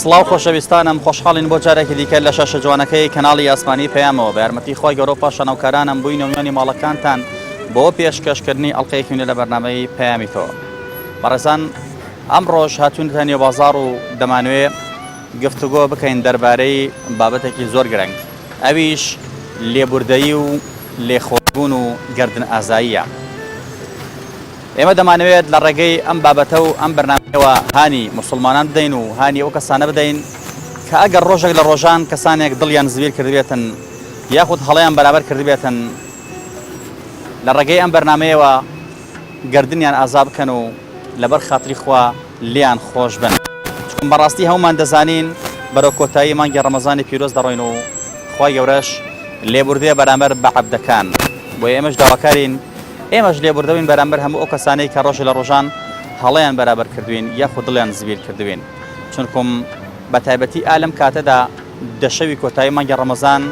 سڵاو خۆشەویستانم خۆشحاڵین بۆ جارێکی دیکە لە شاشە جوانەکەی کەناڵی ئاسمانی پەیامەوە بە یارمەتی خۆی گەۆ پاشانەوکارانم بووی نۆمیانی ماڵەکانتان بۆ پێشکەشکردنی ئەڵلقەیەکیونە لە بەرنمەی پەیامی تۆ بەڕێزان ئەم ڕۆژ هاتوونتە نێو بازار و دەمانوێ گفتوگۆ بکەین دەربارەی بابەتێکی زۆر گرنگ ئەویش لێبوردەیی و لێخۆشبوون و گەردن ئازاییە. ئێمە دەمانەوێت لە ڕێگەی ئەم بابەتە و ئەم بەرنامەوە هانی موسڵمانان بدەین و هانی ئەو کەسانە بدەین کە ئەگەر ڕۆژێک لە ڕۆژان کەسانێک دڵیان زویر کردبێتن یاخود هەڵیان بەرابەر کردبێتن لە ڕێگەی ئەم بەرنمەیەوە گردنیان ئازا بکەن و لەبەر خاتری خوا لێیان خۆش بن چون بەڕاستی هەموومان دەزانین بەرەو کۆتایی مانگی ڕەمەزانی پیرۆز دەڕۆین و خوای گەورەش لێبوردەیە بەرامبەر بە عەبدەکان بۆیە ئێمەش داواکارین ئێمەش لێبوردەبین بەرامبەر هەموو ئەو کەسانەی کە ڕۆژێ لە ڕۆژان هەڵەیان بەرابەر کردوین یاخود دڵیان زبیر کردوین چونکم بە تایبەتی ئا لەم کاتەدا دە شەوی کۆتایی مانگی ڕەمەزان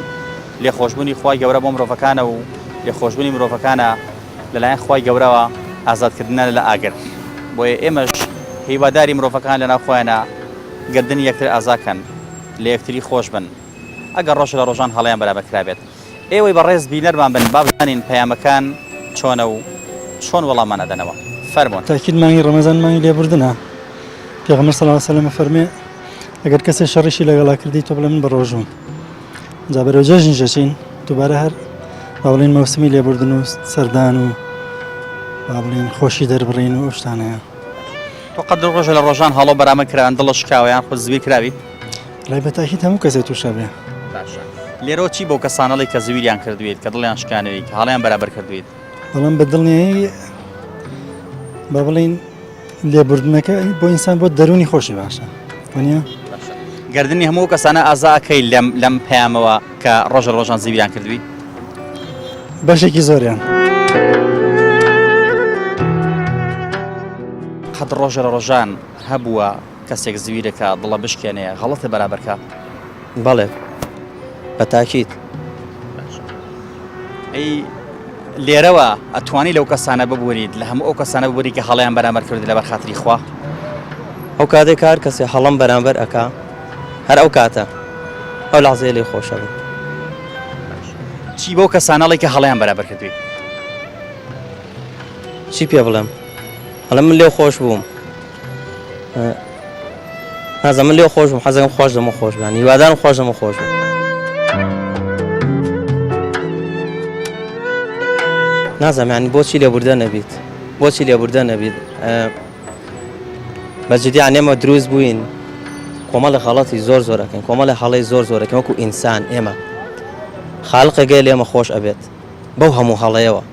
لێخۆشبوونی خوای گەورە بۆ مرۆڤەکانە و لێخۆشبوونی مرۆڤەکانە لەلایەن خوای گەورەوە ئازادکردنە لە ئاگر، بۆیە ئێمەش هیواداری مرۆڤەکان لەناو خۆیانا گەردنی یەکتر ئازا کەن، لە یەکتری خۆش بن ئەگەر ڕۆژێ لە ڕۆژان هەڵەیان بەرامبەر کرابێت. ئێوەی بەڕێز بینەرمان بن با بزانین پەیامەکان چۆنە و چۆن وەڵاممان ئەدەنەوە. فەرموون. تاکید مانگی ڕەمەزان مانگی لێبوردنە پێغەمبەر صلی اللە علیە وسلم ئەفەرموێ ئەگەر کەسێ شەڕیشی لەگەڵا کردی تۆ بڵێ من بەڕۆژووم. جا بەرەو جەژنی جەچین دووبارە هەر با بڵێن مەوسمی لێبوردن و سەردان و با بڵێن خۆشی دەربڕین و شتانەیە تۆ قەد ڕۆژە لە ڕۆژان هەڵۆ بەرامە کراوان دڵە شکاویان خۆ زوی کراوی لای بەتاکی هەموو کەسێت تووشە بێ لێرەوە چی بۆ کەسانەڵی کە زویریان کردوێت کە دڵیان شکانەوەی کە هەڵیان بەرابەر کردوێت بەڵام بە دڵنیایی بە بڵین لێبوردنەکە بۆ ئینسان بۆ دەرونی خۆشی باشە وەنیە گردردنی هەموو کەسانە ئازاکەی لەم لەم پەیامەوە کە ڕۆژە ڕۆژان زیویان کردوی بەشێکی زۆریان. قەت ڕۆژە ڕۆژان هەبووە کەسێک زویرەکە دڵە بشکێنێ غەڵەتە بەرابەرکە. بەڵێ بە تاکید. ئەی لێرەوە ئەتوانی لەو کەسانە ببوریت لە هەموو ئەو کەسانە ببوری کە هەڵیان بەرامبەر کرد لەبەر خاتری خوا ئەو کاتێک کار کەسێ هەڵم بەرامبەر ئەکا هەر ئەو کاتە ئەو لەعزێ لێ خۆشە بن چی بەو کەسانەڵی کە هەڵیان بەرابەر کردوی چی پێ بڵێم هەڵم من لێو خۆش بووم نازە من لێو خۆشم حەزەکەم خۆش دەمە خۆش بان هیوادارم خۆش دەمە خۆش بێت نازەمانی بۆچی لێبوردە نەبیت بۆچی لێبوردە نەبیت بەجددیان نێمە دروست بووین کۆمەڵە خەڵەتی زۆر زۆرەکەن کۆمەڵە هەڵی زۆر زۆرەکە وەکو ئینسان ئێمە خاڵقەگەی لێمە خۆش ئەبێت بەو هەموو هەڵەیەوە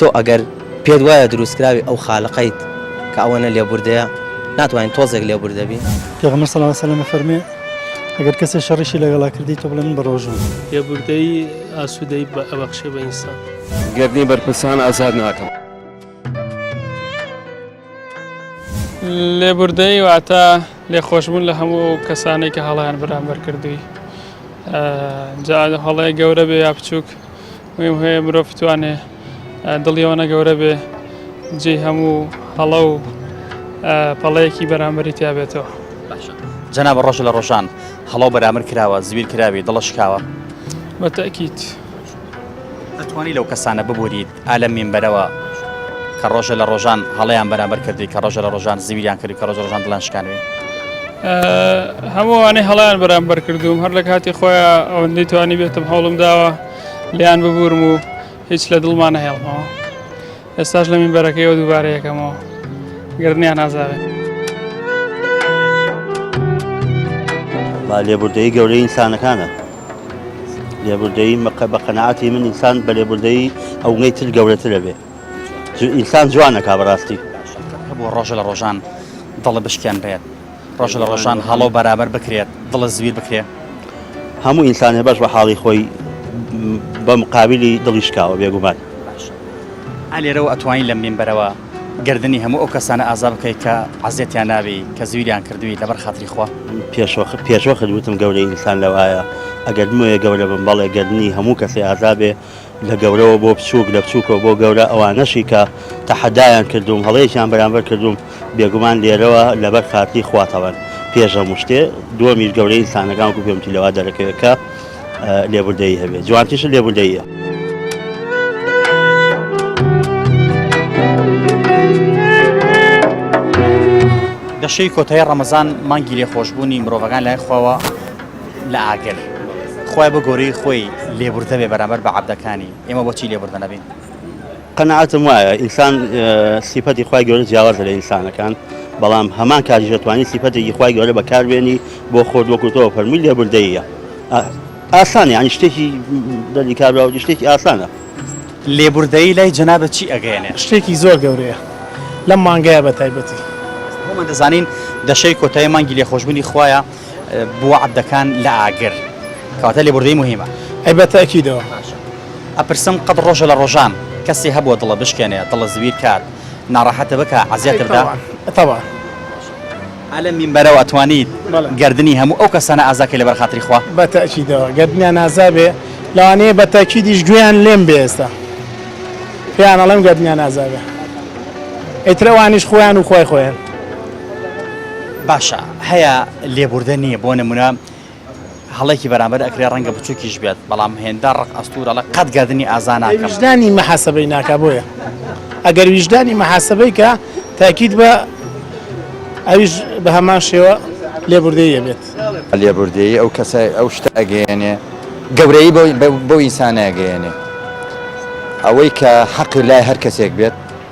تۆ ئەگەر پێت وایە دروستکراوی ئەو خالقەیت کە ئەوەنە لێبوردەیە ناتوانین تۆزێک لێبوردەبی پێغمە سەڵ سەلمە فەرمێ ئەگەر کەسێک شەڕیشی لەگەڵا کردی تۆ بڵێن بە ڕۆژوو لێبوردەی ئاسوودەی بە ئەبەخشێ بە ئینسان گەرنی بەرپرسان ئازاد ناکەم. لێبوردەیی واتە لێخۆشبوون لە هەموو ئەو کەسانەی کە هەڵیان بەرامبەر کردووی جا هەڵەیە گەورە بێ یا بچووک مهم هەیە مرۆڤ بتوانێ دڵیەوەە گەورە بێ جێ هەموو هەڵە و پەڵەیەکی بەرامبەری تیابێتەوە جەنا بە ڕۆژ لە ڕۆژان هەڵە و بەرامبەر کراوە زویر کراوی دڵە شکاوە بەتەکییت ئەتوانی لەو کەسانە ببووریت ئا لەم مینبەرەوە کە ڕۆژە لە ڕۆژان هەڵەیان بەرامبەر کردی کە ڕۆژە لە ڕۆژان زویریان کرد کە ڕۆژە ڕۆژان دڵان شکانوی. هەمووانەی هەڵیان بەرامبەر کردوم هەر لە کاتی خۆیان ئەوەندەی توانی بێتم هەوڵم داوە لیان ببورم و هیچ لە دڵمان نەهێڵمەوە ئێستاش لە مینبەرەکەیەوە دووبارە یەکەمەوە گردنیان نازارێت. لێبوردەی گەورەی ئینسانەکانە. لێبوردەیی مەکە بە قەناعەتی من ئینسان بە لێبوردەیی ئەوگەی تر گەورەترە بێ ئینسان جوانەکە بەڕاستی بۆ ڕۆژە لە ڕۆژان دڵە بشکێنرێت ڕۆژە لە ڕۆژان هەڵۆ بەرابەر بکرێت دڵە زویر بکرێت هەموو ئینسانێ بەش بە حاڵی خۆی بە مقابلی دڵیشکاوە بێگومان ئالێرەوە ئەتوانین لە منبەرەوە گەردنی هەموو ئەو کەسانە ئازا بکەی کە عەزێتیان نابی کە زویریان کردوی لەبەر خاتری خوا. پێشوەخت پێشوەخت وتم گەورەی ئینسان لەوایە ئەگەر بمەوێ گەورە بم بەڵێ گەردنی هەموو کەسێ ئازا بێ لە گەورەوە بۆ بچووک لە بچووکەوە بۆ گەورە ئەوانەشی کە تەحەدایان کردووم هەڵەیەکیان بەرامبەر کردووم بێگومان لێرەوە لەبەر خاتری خوا تەڵەن پێش هەموو شتێ دووەمیش گەورەی ئینسانەکان وەکو پێم وتی لەوا دەرەکەوێ کە لێبوردەیی هەبێت جوانتیشە لێبوردەیە. دەشەی کۆتای ڕەمەزان مانگی لێ خۆشببوونی مرۆڤەکان لای خواوە لە ئاگر خۆی بە گۆری خۆی لێبوردە بێ بەرامبەر بە عبدەکانی ئێمە بۆچی لێبوردە نەبین قەناعەتم وایە ئینسان سیفەتی خوای گەورە جیاوازە لە ئینسانەکان بەڵام هەمان کاریش دەتوانانی سیفەتێکی خوای گەورە بەکاربێنی بۆ خۆت وەکوتەوە فەرمووی لێبوردەیە ئاسانە ینی شتێکی دەردی کاربراوەتی شتێکی ئاسانە لێبوردەیی لای جەنابەت چی ئەگەێنێ شتێکی زۆر گەورەیە لەم مانگەیە بە تایبەتی هەمە دەزانین دەشەی کۆتای مانگی لێخۆشببوونی خویە بووە عەبدەکان لە ئاگر کەواتە لێبوردەی مهمە ئەی بە تاکیدەوە ئەپرسم قەت ڕۆژە لە ڕۆژان کەسی هەبووە دڵە بشکێنێ دڵە زویر کات ناڕەحەتە بکە عزیەتبدا تەوا ئەلە مینبەرەوە ئەتوانیت گردردنی هەموو ئەو کەسانە ئازاکە لەبەر خاتری خوا بە تاکیدەوە گردنیان نازابێ لەوانەیە بە تاکیدیش گوێیان لێم بێستا پێیان ئەڵم گردنیان نازابێ ئەیترەوانیش خۆیان و خۆی خۆیان باشە هەیە لێبوردە نییە بۆ نمونە هەڵێکی بەرامبەر ئەکرێ ڕەنگە بچووکیش بێت بەڵام هێندە ڕق ئەستورەڵە قەت گەردنی ئازانە ویژدانی مەحاسەبەی ناکا بۆیە ئەگەر ویژدانی مەحاسەبەی کە تاکیت بە ئەویش بە هەمان شێوە لێبوردەیە بێت لێبوردەیی ئەو کەسە ئەو شتە ئەگەیێنێ گەورەی بۆ ئینسانە ئەگەیێنێ ئەوەی کە حەقی لای هەر کەسێک بێت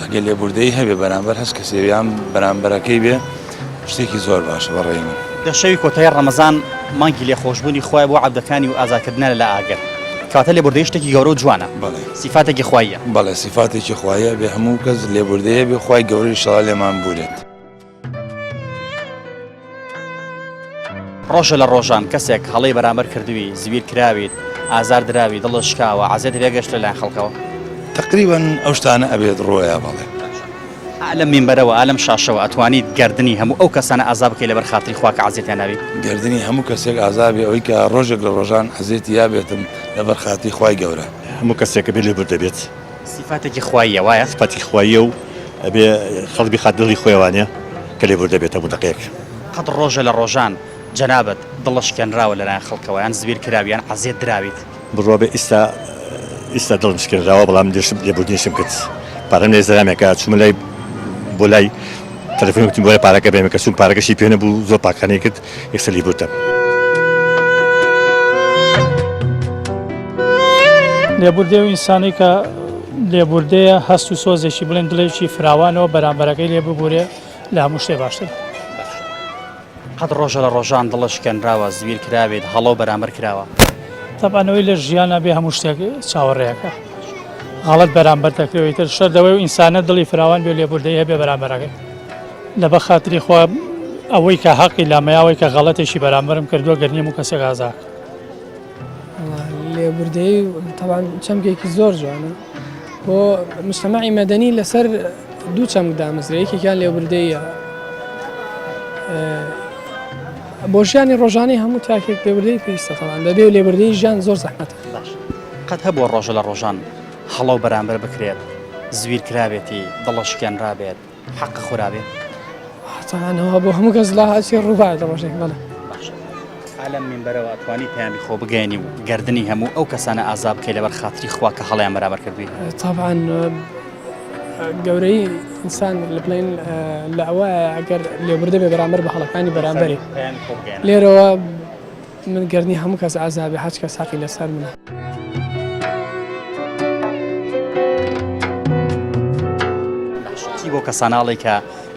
ئەگەر لێبوردەیی هەبێ بەرامبەر هەچ کەسێ یان بەرامبەرەکەی بێ شتێکی زۆر باشە بە ڕێی من. دە شەوی کۆتای ڕەمەزان مانگی لێخۆشبوونی خوایە بۆ عەبدەکانی و ئازادکردنە لە لە ئاگر کەواتە لێبوردەیی شتێکی گەورە و جوانە بەڵێ سیفاتێکی خواییە. بەڵێ سیفاتێکی خواییە ئەبێ هەموو کەس لێبوردەیی هەبێ خوای گەورەش ئینشاڵا لێمان بوورێت. ڕۆژە لە ڕۆژان کەسێک هەڵی بەرامبەر کردووی زویر کراویت ئازار دراوی دڵە شکاوە عزێت لێگەشت لە لایەن خەڵکەوە تقریبان ئەو شتانە ئەبێت ڕۆیا بەڵێ لەم مینبەرەوە ئالم شاشەوە ئەتوانیت گردردنی هەموو ئەو کەسانە ئازا بکەی لەبەر خاتری خواکە عزیێتیان ناوی گردردنی هەموو کەسێک ئازابێ ئەوی کە ڕۆژێک لە ڕۆژان عزێتی یابێتم لەبەر خاتی خی گەورە هەموو کەسێکە بێ لێ بردەبێت سیفاتێکی خواییە وایە؟ سیفاتی خواییە و ئەبێ خەڵک بیخات دڵی خۆی وانیە کە لێبوردە بێت هەموو دەقێک. قەت ڕۆژە لە ڕۆژان جەنابت دڵت شکێنراوە لەلایەن خەڵکەوە یان زویر کراوی یان عەزیەت دراویت؟ بڕوا بە ئیستا ئیستا دڵم شکێنراوە بەڵام لێشم لێبوردنیشم کرد پارەم لێ زەرامێ کە چومە لای بۆ لای تەلەفۆنی وتم بۆرە پارەکە بێنە کە چوم پارەکەشی پێ نەبوو زۆر پاکانەی کرد یەکسەلی بوردەم. لێبوردەی ئەو ئینسانەی کە لێبوردەیە هەست و سۆزێکی بڵێن دڵێکی فراوانەوە بەرامبەرەکەی لێ ببورێ لە هەموو شتێ باشتر قەت ڕۆژە لە ڕۆژان دڵە شکێنراوە زویر کراوێت هەڵۆ بەرامبەر کراوە تەبانەوەی لە ژیانە بێ هەموو شتێک چاوەڕێەکە غەڵت بەرامبەر دەکرێتتر شەردەوەی و ئینسانە دڵی فراوان بێ لێبوردەیە بێ بەرامبەرەکەی لە بە خاتری خوا ئەوەی کە هەقی لامەیە ئەوەی کە غەڵەتێکی بەرامبەرم کردووە گەر نییە موو کەسێک ئازا کە. لێبوردەیی تەوان چەمکێکی زۆر جوانە بۆ مشتەمەعی مەدەنی لەسەر دوو چەمک دامەزرێ یەکێکیان لێبوردەیە بۆ ژیانی ڕۆژانی هەموو تاکێک لێبوردەی پێویستەتەوان دەبێ لێبوردەی ژیان زۆر زەحمەت باش قەت هەبووە ڕۆژە لە ڕۆژان هەڵە و بەرامبەر بکرێت زویر کرابێتی دڵەشکێنرابێت حەقە خورابێ هەتانەوە بۆ هەموو کەس لا هەچی ڕووبار لە ڕۆژێک بەڵێ ئالەم منبەرەوە توانی پەیامی خۆ بگەێنی و گردردنی هەموو ئەو کەسانە ئازاب بکەی لەبەر خاتری خوا کە هەڵیان بەرابەر کردوی تاان گەورەی ئینسان لە بڵێن لە ئەوە ئەگەر لێبوردە بێ بەرامبەر بە هەڵەکانی بەرامبەری لێرەوە من گەر نی هەموو کەس عەزابێ حەج کەس حەقی لەسەر منە. چی بۆ کەساناڵی کە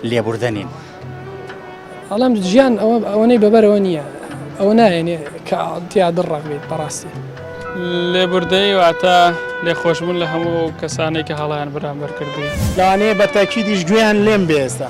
لێبوردەنین ئەڵام ژیان ئەوە ئەوەی بەبەرەوە نییە ئەوە نایێنێ کە تیا دڕڕاک بێت بەڕاستی لێبوردەی واتە لێخۆشبوون لە هەموو کەسانێک کە هەڵیان بران بەرکردی لەوانەیە بەتەکی دیش گوێیان لێم بێستا.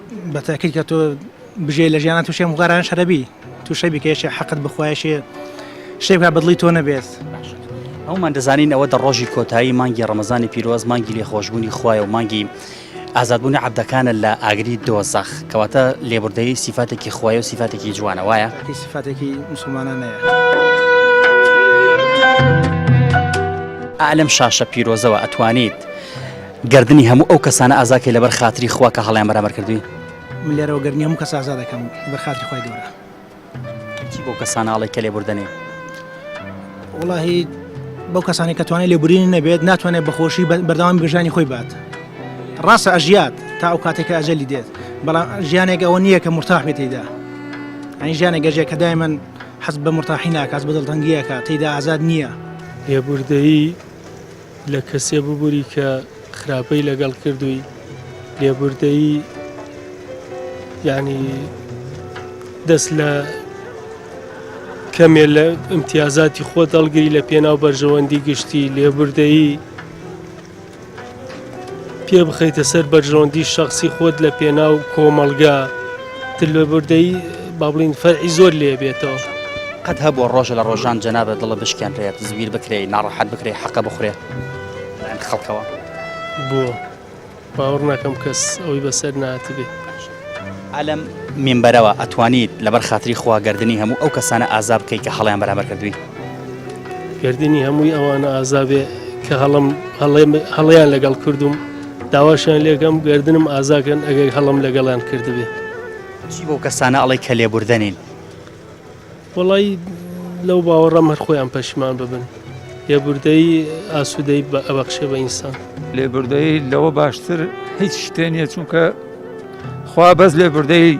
بە تاکید کە تۆ بژێ لە ژیانە تووشێ مغارانە شەرەبی تووشە بیکەێشێ حەقت بخوایشێ شێ بکە بەدڵی تۆ نەبێت. هەومان دەزانین ئەوە دە ڕۆژی کۆتایی مانگی ڕەمەزانی پیرۆز مانگی لێ خۆشببوونی خوایە و مانگی ئازادبوونی عبدەکانە لە ئاگری دۆزەخ کەواتە لێبوردەی سیفاتێکی خوای و سیفاتێکی جوانە وایە سیفاتێکی مسلمانانەیە. ئالم شاشە پیرۆزەوە ئەتوانیت گەردنی هەموو ئەو کەسانە ئازاد کەی لەبەر خاتری خوا کە هەڵەیان بەرامبەر کردووی. من لێرەوە گەردنی هەموو کەس ئازاد دەکەم لەبەر خاتری خوای گەورە. چی بەو کەسانە ئەڵێی کە لێبوردەنێ؟ وەڵاهی بەو کەسانی کە توانای لێبورینی نەبێت ناتوانێت بەخۆشی بەردەوام بەژانی خۆی بات. ڕاستە ئەژیات تا ئەو کاتێکە ئەجەلی دێت بەڵام ژیانێک ئەوە نییە کە مرتاح بێت تێدا. ئەنی ژیانە گەژێک کە دای من حەز بە مرتاحی ناکات بە دڵتەنگیەکە تێدا ئازاد نییە. لێبوردەیی لە کەسێ ببوری کە خراپەی لەگەڵ کردووی لێبوردەیی یعنی دەست لە کەمێ لە امتیازاتی خۆ دەڵگری لە پێناو بەرژەوەندی گشتی لێبوردەیی پێ بخەیتە سەر بەرژەوەندی شخصی خۆت لە پێناو کۆمەڵگا تلوبردەی با بڵین فەرعی زۆر لێ بێتەوە. قەت هەبووە ڕۆژە لە ڕۆژان جەنابت دڵە بشکێنرێت زویر بکرێ ناڕەحەت بکرێ حەقە بخورێ لەن خەڵکەوە بۆ باوەڕ ناکەم کەس ئەوەی بەسەر ناتبێ ئەلم مینبەرەوە ئەتوانیت لەبەر خاتری خوا گردردنی هەموو ئەو کەسانە ئازا بکەیت کە هەڵیان بەرامبەر کردووی گردردنی هەمووی ئەوانە ئازابێ کە هەڵم هەڵیان لەگەڵ کردوم داواشیان لێکەم گەردنم ئازاکەن ئەگەر هەڵم لەگەڵیان کردبێ. چی بەو کەسانە ئەڵێی کە لێبوردەنین؟ وەڵایی لەو باوەڕەم هەر خۆیان پەشیمان ببن. لێبوردەیی ئاسوودەیی بە ئەبەخشێ بە ئینسان. لێبوردەیی لەوە باشتر هیچ شتێ نییە چونکە خوا بەس لێبوردەیی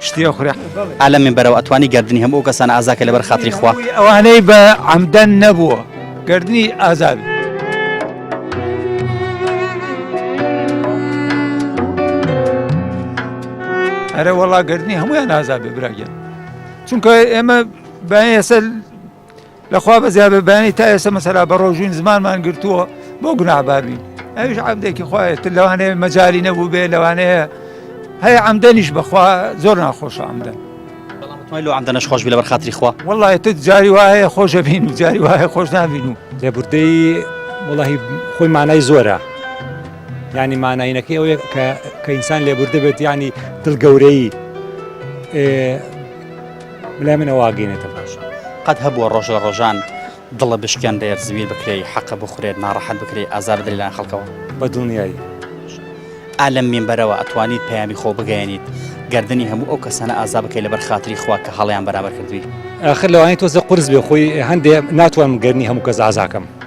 شتی ئەخورێ ئا لە مینبەرەوە ئەتوانی گەردنی هەموو ئەو کەسانە ئازا کەی لەبەر خاتری خوا. ڕووی ئەوانەی بە عەمدەن نەبووە گەردنی ئازا بێ. ئەرە وەڵا گەردنی هەموویان ئازا بێ براگیان چونکە ئێمە بە ئێسە لە خوا بەزیاد بێ بەیانی تا ئێستا مەسەلا بە ڕۆژووین زمانمان گرتووە بۆ گوناهبار بین ئەویش عەمدێکی خوایەت لەوانەیە مەجالی نەبوو بێ لەوانەیە هەیە عەمدەنیش بەخوا زۆر ناخۆشە عەمدەن مای لۆ عەمدەنەش خۆش بێ لەبەر خاتری خوا وەڵی تت جاری وایە خۆشە بین و جاری وایە خۆش نابین و لێبوردەی وڵی خۆی مانای زۆرە ینی ماناینەکەی ئەوەیە کە کە ئینسان لێبوردە بێت ینی دڵ گەورەی بلای من ئەوە ئاگەینێتە باشە قەت هەبووە ڕۆژ لە ڕۆژان دڵە بشکێن دەێت زویر بکرێی حەقە بخورێت ناڕەحەت بکرێت ئازار دەلان خەڵکەوە بە دڵنیایی ئالم مینبەرەوە ئەتوانیت پەیامی خۆ بگەیەنیت گردردنی هەموو ئەو کەسانە ئازا بکەی لەبەر خاتری خوا کە هەڵیان بەرابەر کردووی ئەخر لەوانی تۆزە قرس بێ خۆی هەندێ ناتوانم گەرنی هەموو کەس ئازاکەم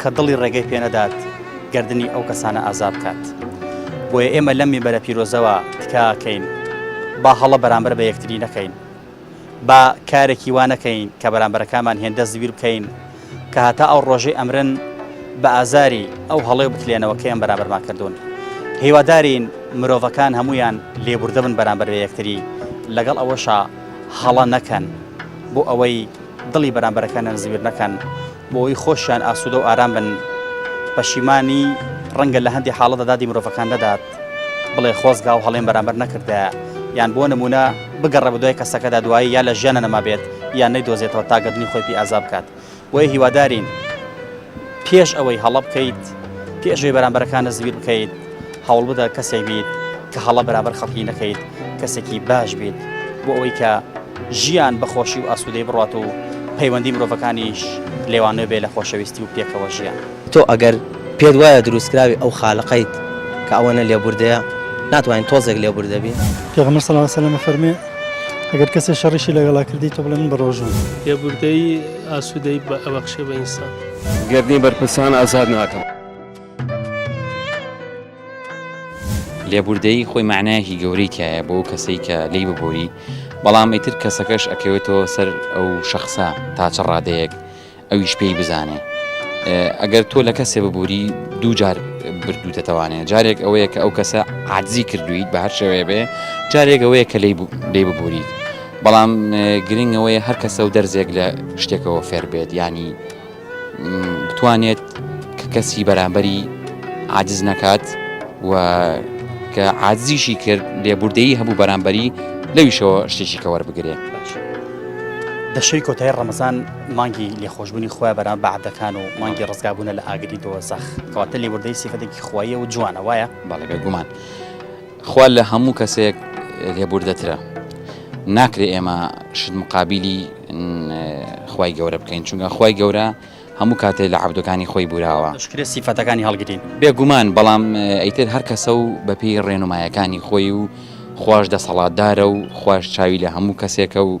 کە دڵی ڕێگەی پێ نەدات گەردنی ئەو کەسانە ئازاد بکات بۆیە ئێمە لەم میبەرە پیرۆزەوە تکاکەین با هەڵە بەرامبەر بە یەکتری نەکەین با کارێکی وا نەکەین کە بەرامبەرەکانمان هێندە زویر بکەین کە هەتا ئەو ڕۆژەی ئەمرن بە ئازاری ئەو هەڵێ بکلێنەوە کەیان بەرامبەرمان کردوون هیوادارین مرۆڤەکان هەمویان لێبوردە بن بەرامبەر بە یەکتری لەگەڵ ئەوەشا هەڵە نەکەن بۆ ئەوەی دڵی بەرامبەرەکانیان زویر نەکەن بۆوەی خۆشیان ئاسودە و ئارام بن پەشیمانی ڕەنگە لە هەندی حاڵەتدا دادی مرۆڤەکان نەدات بڵێ خۆزگا و هەڵێن بەرامبەر نەکردە یان بۆ نمونە بگەڕە بەدوای کەسەکەدا دوایی یا لە ژیانە نەمابێت یان نەی دۆزێتەوە تا گەردنی خۆی پێ ئازا بکات بۆیە هیوادارین پێش ئەوەی هەڵە بکەیت پێشوی بەرامبەرەکان نەزویر بکەیت هەوڵبدە کەسێک بیت کە هەڵە بەرابەر خەڵکی نەکەیت کەسێکی باش بیت بۆ ئەوەی کە ژیان بەخۆشی و ئاسوودەی بڕات و پەیوەندی مرۆڤەکانیش لێوانێ بێ لە خۆشەویستی و پێکەوە ژیان. تۆ ئەگەر پێت وایە دروستکراوی ئەو خالقەیت کە ئەوەنە لێبوردەیە ناتوانیت تۆزێک لێبوردە بی. پێغەمبەر صلی اللە علیە و سلم ئەفەرموێ، ئەگەر کەسێ شەڕیشی لەگەڵا کردی تۆ بڵێ من بەڕۆژووم. لێبوردەیی ئاسوودەیی ئەبەخشێ بە ئینسان. گەردنی بەرپرسان ئازاد ناکەم. لێبوردەیی خۆی معنایەکی گەورەی تایە بۆ کەسەی کە لی ببووری بەڵام ئیتر کەسەکەش ئەکەوێتەوە سەر ئەو شخصە تاچە ڕادەیەک ئەویش پێی بزانێ ئەگەر تۆ لە کەسێ ببووری دوو جار بردوو دەتوانێت جارێک ئەوەیە کە ئەو کەسە عادزی کردویت بە هەر شێوەیە بێ جارێک ئەوەیە کە لی لێ ببووریت بەڵام گرنگەوەی هەر کەسە و دەرزێک لە شتێکەوە فێر بێت ینی بتوانێت کە کەسی بەرامبەری عادز نەکات و کە عادزیشی کرد لێبوردەیی هەبوو بەرامبەری لەویشەوە شتێکی کە وەربگرێ دەشەی کۆتای ڕەمەزان مانگی لێخۆشببوونی خۆیان بەران بەعدەکان و مانگی ڕزگابوونە لە ئاگری دۆزەخ کەواتە لێبوردەی سیفەتێکی خوایە و جوانە وایە بەڵگە گومان. خوا لە هەموو کەسێک لێبوردەترە ناکرێ ئێمە شت مقابیلی خوای گەورە بکەین چونکە خوای گەورە هەموو کاتێ لە عەبدەکانی خۆی بوراوە دەشکرێ سیفەتەکانی هەڵگرین. بێگومان بەڵام ئیتر هەر کەسە و بە پێی ڕێنومایەکانی خۆی و خواش دەسەڵاتدارە و خواش چاوی لە هەموو کەسێکە و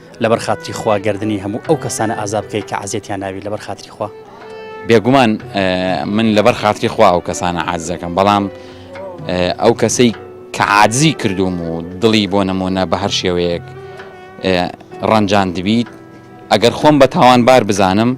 لەبەر خاتری خوا گەردنی هەموو ئەو کەسانە ئازا بکەیت کە عەزێتیان ناوی لەبەر خاتری خوا بێگومان من لەبەر خاتری خوا ئەو کەسانە عادزەکەم بەڵام ئەو کەسەی کە عادزی کردوم و دڵی بۆ نمونە بە هەر شێوەیەک ڕەنجان دبیت ئەگەر خۆم بە تاوانبار بزانم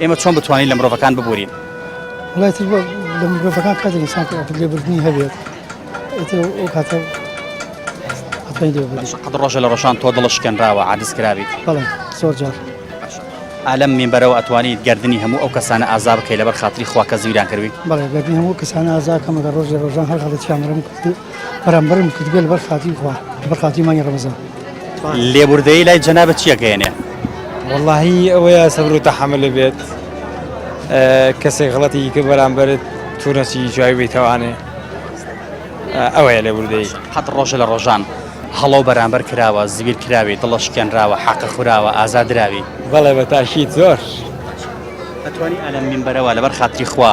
ئێمە چۆن بتوانین لە مرۆڤەکان ببورین وڵای تر لە مرۆڤەکان قەدر ئینسان لێبوردنی هەبێت ئەو کاتە قەد ڕۆژە لە ڕۆژان تۆ دڵش کەنراوە عادز کرابیت بەڵێ زۆر جار ئالم مینبەرەوە ئەتوانیت گردردنی هەموو ئەو کەسانە ئازا بکەی لەبەر خااتری خواکە زیران کردی بەڵێ گردنی هەموو کەسانە ئازاکەمەگە ڕۆژ لە ڕۆژان هەر هەڵێکیانرم برام بەرم کردبێ لەبەر خاتری خوا لەبەر خاتری مانگی ڕەمەزان لێبوردەیی لای جەنابە چیەکەێنێ واللهی ئەوەیە سەبر و تەحمل بێت کەسێک غڵەتی کە بەرامبرت تورەسی جوای بیتوانێ ئەوەیە لێبوردەیی حەت ڕۆژە لە ڕۆژان هەڵۆ بەرامبەر کراوە زیبیر کراوی دڵە شکێنراوە حەقە خوراوە ئازادراوی بەڵێ بە تاشیت زۆر ئەتوانی ئەلم من بەرەوە لەبەر خاتری خوا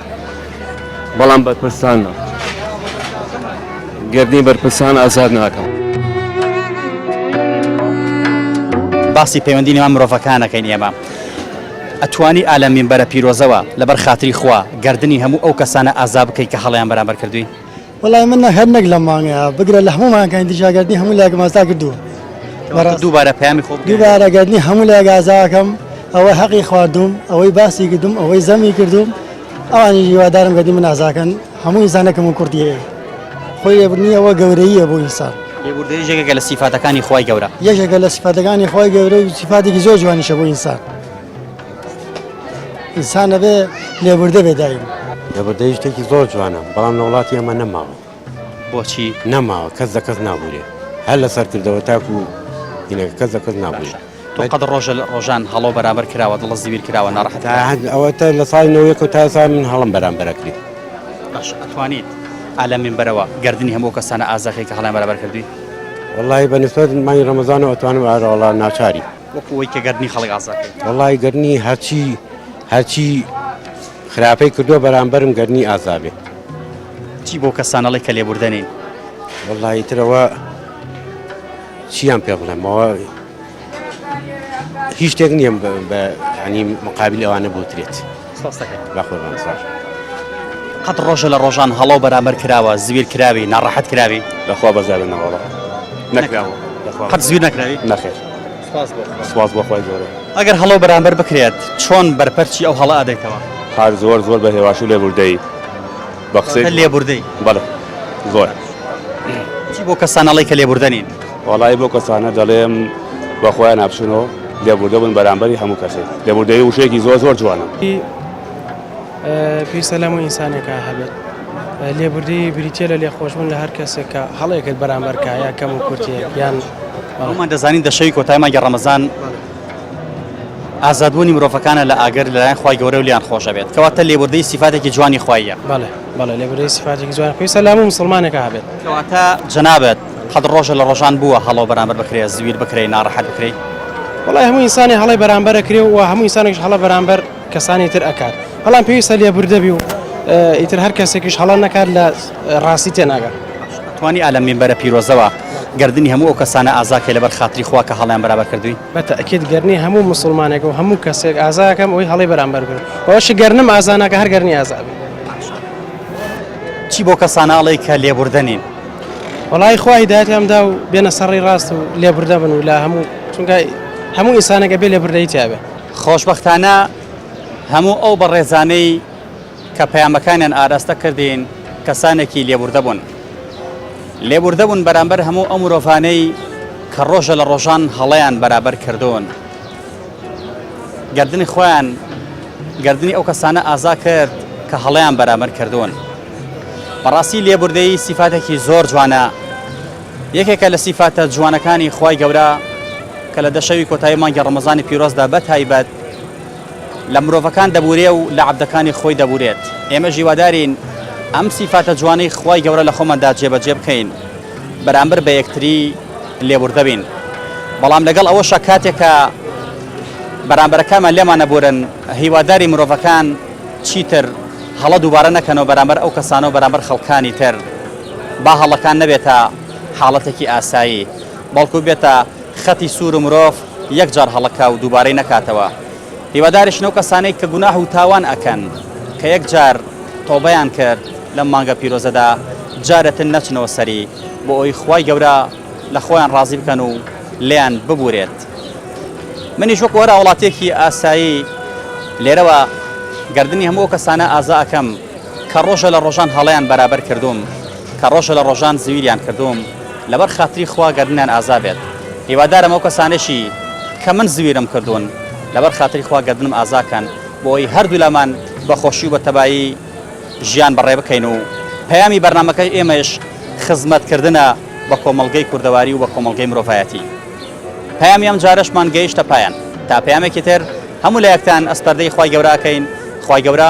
بەڵام بەرپرسان نا گردنی بەرپرسان ئازاد ناکەم. باسی پەیوەندی نێوان مرۆڤەکانەکەین ئێمە ئەتوانی ئالە مینبەرە پیرۆزەوە لەبەر خاتری خوا گردنی هەموو ئەو کەسانە ئازا بکەیت کە هەڵیان بەرامبەر کردووی وەڵای من نە هەر نەک لەم مانگەیە بگرە لە هەموو مانگەکانی تریش ئاگەردنی هەموو لایەکم ئازا کردووە بەڕاست دووبارە پەیامی خۆ بگەیەنە. دووبارە ئاگەردنی هەموو لایەک ئازاکەم ئەوەی حەقی خواردووم ئەوەی باسی کردووم ئەوەی زەمی کردووم ئەوانیش هیوادارم گەردنی من ئازاکەن هەموو ئینسانێک کەمو کوڕتی هەیە خۆی لێبوردنی ئەوە گەورەییە بۆ ئینسان لێبوردەیش یەکێکە لە سیفاتەکانی خوای گەورە. یەکێکە لە سیفاتەکانی خوای گەورە و سیفاتێکی زۆر جوانیشە بۆ ئینسان. ئینسان نەبێ لێبوردە بێ دایم لەبەردەی شتێکی زۆر جوانە بەڵام لە وڵاتی ئەمە نەماوە بۆچی نەماوە کەس لە کەس نابورێ هەر لەسەر کردەوە تاکو هینەکە کەس لە کەس نابێت تۆ قەت ڕۆژە لە ڕۆژان هەڵۆ بەرامبەر کراوە دڵە زیویر کراوە ناڕحەت ئەوە تا لە سای نەوەیەک و تا سا من هەڵم بەرامبەرەکری باش ئەتوانیت ئالە من بەرەوە گردردنی هەموو کەسانە ئازاخی کە هەڵیان بەرابەر کردی وڵی بەنسبەت مای ڕەمەزانەوە توانم ئارەوەڵا ناچاری وەکو ئەوەی کە گەردنی خەڵک ئازاد بێت؟ وەڵای گەردنی هەرچی هەرچی خراپەی کردووە بەرامبەرم گەردنی ئازاد بێت. چی بۆ کەسان ئەڵێ کە لێبوردەنین؟ وەڵایی ترەوە چیان پێ بڵێمەوە هیچ شتێک نییە بە ینی مقابل ئەوانە بوترێت. سپاست دەکەین. با قوربان سپاس بکەم. قەت ڕۆژێ لە ڕۆژان هەڵە و بەرامبەر کراوە زویر کراوی ناڕەحەت کراوی؟ لە خوا بەزیادە نەوەڵا نەکراوە لە خوا قەت زویر نەکراوی؟ نەخێر سپاس بۆ خوا سپاس بۆ خوای گەورە. ئەگەر هەڵە و بەرامبەر بکرێت چۆن بەرپەرچی ئەو هەڵە ئەدەیتەوە؟ هەر زۆر زۆر بە هێواشی و لێبوردەیی. بەقسەی کە لێبوردەی بەڵێ زۆر چی بۆ کەسان ئەڵێی کە لێبوردە نین وەڵی بۆ کەسانە دەڵێم بە خۆیان ناپچنەوە لێبوردە بوون بەرامبەری هەموو کەسێک لێبوردەی وشێکی زۆر زۆر جوانە پێویستە لەمو ئینسانێکە هەبێت لێبوردی بریتە لە لێخۆشبوون لە هەر کەسێکە هەڵێکت بەرامبەرکایە کەم و کورتێک یان ئەومان دەزانین دەشەوی کۆتایمانگە ڕەمەزان ئازادبوونی مرۆڤەکانە لە ئاگر لەلایەن خوای گەورە و لیان خۆشە بێت کەواتە لێبوردەی سیفاتێکی جوانی خواییە بەڵێ بەڵێ لێبوردەی سیفاتێکی جوان خوای سەلام و مسلمانێکە هەبێت کەواتە جەنابت حەد ڕۆژە لە ڕۆژان بووە هەڵەو بەرامبەر بکرێ زویر بکرێ ناڕەحەت بکرێی وڵای هەموو ئینسانی هەڵەی بەرامبەرە کرێ و هەموو ئینسانێکش هەڵە بەرامبەر کەسانی تر ئەکات بەڵام پێویستە لێبوردەبی و ئیتر هەر کەسێکیش هەڵە نەکات لە ڕاستی تێناگات توانی ئالە مینبەرە پیرۆزەوە گردردنی هەموو ئەو کەسانە ئازاکە لەبەر خاتری خوا کە هەڵیان بەرابەر کردوین بە تاکیید گەرنی هەموو مسلمانێک و هەموو کەسێک ئازاکەم ئەوی هەڵی بەرامبەر بن ئەوش گەرنم ئازانەکە هەر گەرنی ئازابی چی بۆ کەسانناڵی کە لێبوردەنین وڵی خوا هیداەتیان دا و بێنە سەڕی ڕاست و لێبوردە بن و لە هەموو چونگای هەموو ئینسانەکە بێ لێبوردەی تیاابێت خۆشبەختانە هەموو ئەو بەڕێزانەی کە پەیامەکانیان ئاراستە کردین کەسانێکی لێبوردە بوون. لێبوردە بوون بەرامبەر هەموو ئەو مرۆڤانەی کە ڕۆژە لە ڕۆژان هەڵەیان بەرابەر کردوون. گردنی خۆیان گردنی ئەو کەسانە ئازا کرد کە هەڵەیان بەرامبەر کردوون. بەڕاستی لێبوردەیی سیفاتێکی زۆر جوانە یەکێکە لە سیفاتە جوانەکانی خوای گەورە کە لە دە شەوی کۆتایی مانگی ڕەمەزانی پیرۆزدا بە تایبەت لە مرۆڤەکان دەبورێ و لە عەبدەکانی خۆی دەبورێت ئێمە ژیوادارین ئەم سیفاتە جوانەی خوای گەورە لە خۆماندا جێبەجێ بکەین بەرامبەر بە یەکتری لێبوردەبین بەڵام لەگەڵ ئەوەشە کاتێکە بەرامبەرەکانمان لێمان نەبورن هیواداری مرۆڤەکان چیتر هەڵە دووبارە نەکەنەوە بەرامبەر ئەو کەسانەوە بەرامبەر خەڵکانی تر با هەڵەکان نەبێتە حاڵەتێکی ئاسایی، بەڵکو بێتە خەتی سوور و مرۆڤ یەک جار هەڵەکا و دووبارەی نەکاتەوە. هیواداریشن ئەو کەسانەی کە گوناح و تاوان ئەکەن، کە یەک جار تۆبەیان کرد لەم مانگە پیرۆزەدا، جارێتر نەچنەوە سەری، بۆ ئەوەی خوای گەورە لە خۆیان ڕازی بکەن و لێیان ببوورێت. منیش وەکو هەر هاوڵاتییەکی ئاسایی لێرەوە گەردنی هەموو ئەو کەسانە ئازا ئەکەم، کە ڕۆژە لە ڕۆژان هەڵەیان بەرابەر کردووم، کە ڕۆژە لە ڕۆژان زویریان کردووم، لەبەر خاتری خوا گەردنیان ئازا بێت. هیوادارم ئەو کەسانەشی کە من زویرم کردوون، لەبەر خاتری خوا گەردنم ئازا کەن، بۆ ئەوەی هەردوولامان بە خۆشی و بە تەبایی ژیان بەڕێ بکەین و پەیامی بەرنامەکەی ئێمەیش خزمەتکردنە بە کۆمەڵگەی کوردەواری و بە کۆمەڵگەی مرۆڤایەتی. پەیامی ئەمجارەشمان گەیشتە پایان. تا پەیامێکی تر هەموو لایەکتان ئەسپەردەی خوای گەورە ئەکەین، خوای گەورە.